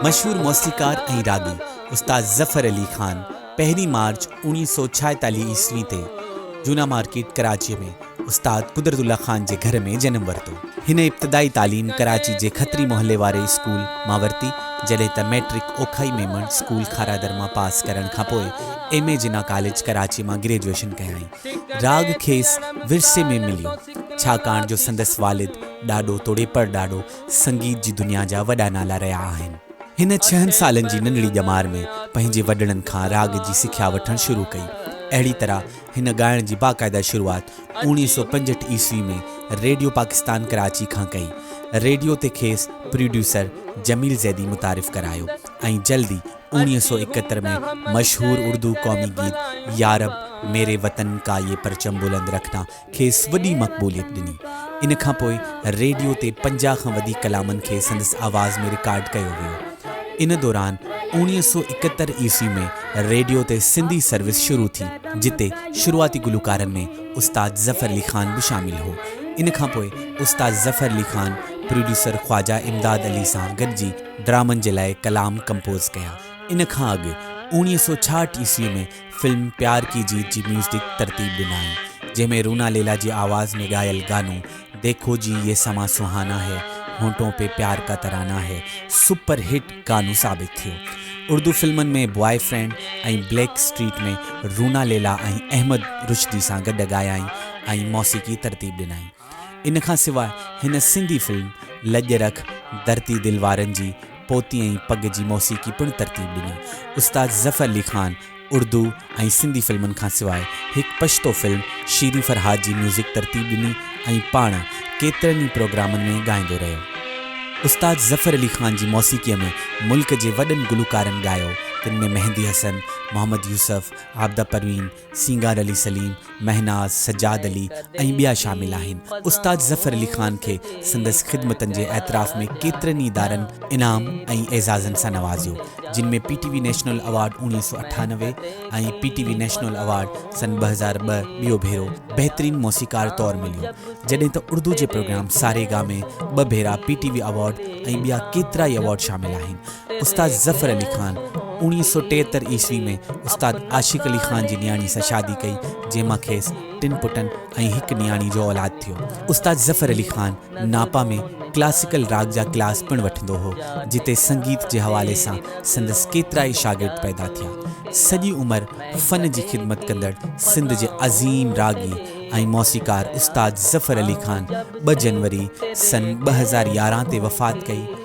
مشهور موسيقار ۽ راڳي استاد ظفر علي خان پهرين مارچ اوڻيهه سؤ ڇاهيتاليهه عيسوي تي جونا مارڪيٽ ڪراچيء ۾ استاد قدرت الله خان جي گهر ۾ جنم ورتو. هن ابتدائي تعليم ڪراچي جي کتري محلي واري اسڪول مان ورتي جڏهن ته مئٽرڪ اوکائي ميمڻ اسڪول کارادر مان پاس ڪرڻ کانپوء M A Jinnah college Karachi مان گريجوئيشن ڪيائين. راڳ کيس ورثي ۾ مليو، ڇاڪاڻ جو سندس والد ڏاڏو توڙي پڙڏاڏو سنگيت جي دنيا جا وڏا نالا رهيا آهن. هن ڇهن سالن جي ننڍڙي ڄمار ۾ پنهنجي وڏڙن کان راڳ جي سکيا وٺڻ شروع ڪئي. اهڙي طرح هن ڳائڻ جي باقاعده شروعات اوڻيهه سؤ پنجهٺ عيسوي ۾ ريڊيو پاڪستان ڪراچي کان ڪئي. ريڊيو تي کيس پروڊيوسر جميل زيدي متعارف ڪرايو ۽ جلد ئي اوڻيهه سؤ ايڪهتر ۾ مشهور اردو قومي گيت يارب ميري وطن ڪا يي پرچم بلند رکنا کيس وڏي مقبوليت ڏني. ان کان پوء ريڊيو تي پنجاهه کان وڌيڪ ڪلامن کي سندس آواز ۾ رڪارڊ ڪيو ويو. ان دوران اوڻيهه سؤ ايڪهتر عيسوي ۾ ريڊيو تي سنڌي سروس شروع ٿي جتي شروعاتي گلوڪارن ۾ استاد ظفر علي خان به شامل هو. ان کان پوء استاد ظفر علي خان پروڊيوسر خواجه امداد علي سان گڏجي ڊرامن جي لاء ڪلام ڪمپوز ڪيا. ان کان اڳ اوڻيهه سؤ ڇاهٺ عيسوي ۾ فلم پيار ڪي جيت جي ميوزڪ ترتيب ڏنائين، جنهن ۾ رونا ليلا جي آواز ۾ ڳايل گانو ديکو جي يي سما سهانا هي، هونٽون پي پيار ڪا ترانا هي سپر هٽ گانو ثابت ٿيو. اردو فلمن ۾ boy friend ۽ black street ۾ Runa Laila ۽ Ahmed Rushdi سان گڏ ڳايائين ۽ موسيقي ترتيب ڏنائين. ان کان سواء هن سنڌي فلم لڄ رک ڌرتي دل وارن جي پوتي ۽ پڳ جي موسيقي پڻ ترتيب ڏني. استاد ظفر علي خان اردو ۽ سنڌي فلمن کان سواء هڪ پشتو فلم شيرين فرهاد جي ميوزڪ ترتيب ڏني ۽ پاڻ ڪيترن ئي پروگرامن ۾ ڳائيندو رهيو. استاد ظفر علي خان جي موسيقيء ۾ ملڪ جي وڏن گلوڪارن ڳايو، تن ۾ مهندي حسن، محمد يوسف، عابده پروين، سينگار علي سليم، مهناز، سجاد علي ۽ ٻيا شامل آهن. استاد ظفر علي خان کي سندس خدمتن جي اعتراف ۾ ڪيترن ئي ادارن انعام ۽ اعزازن سان نوازيو، جن ۾ P T V national award اوڻيهه سؤ اٺانوي ۽ P T V national award سن ٻه هزار ٻه ٻيو ڀيرو بهترين موسيقار طور مليو، جڏهن ته اردو جي پروگرام ساري گا مي ٻه ڀيرا پي ٽي وي ايوارڊ ۽ ٻيا ڪيترائي ايوارڊ شامل آهن. استاد ظفر علي خان اوڻيهه سؤ ٽيهتر عيسوي ۾ استاد عاشق علي خان جي نياڻي سان شادي ڪئي، جنهن مان کيس ٽن پٽن ۽ هڪ نياڻي جو اولاد ٿيو. استاد ظفر علي خان ناپا ۾ ڪلاسيڪل راڳ جا ڪلاس پڻ وٺندو هو، جتي سنگيت جي حوالي سان سندس ڪيترائي شاگرد پيدا ٿيا. سڄي عمر فن جي خدمت ڪندڙ سنڌ جي عظيم راڳي ۽ موسيقار استاد ظفر علي خان ٻه جنوري سن ٻه هزار يارهن تي وفات ڪئي.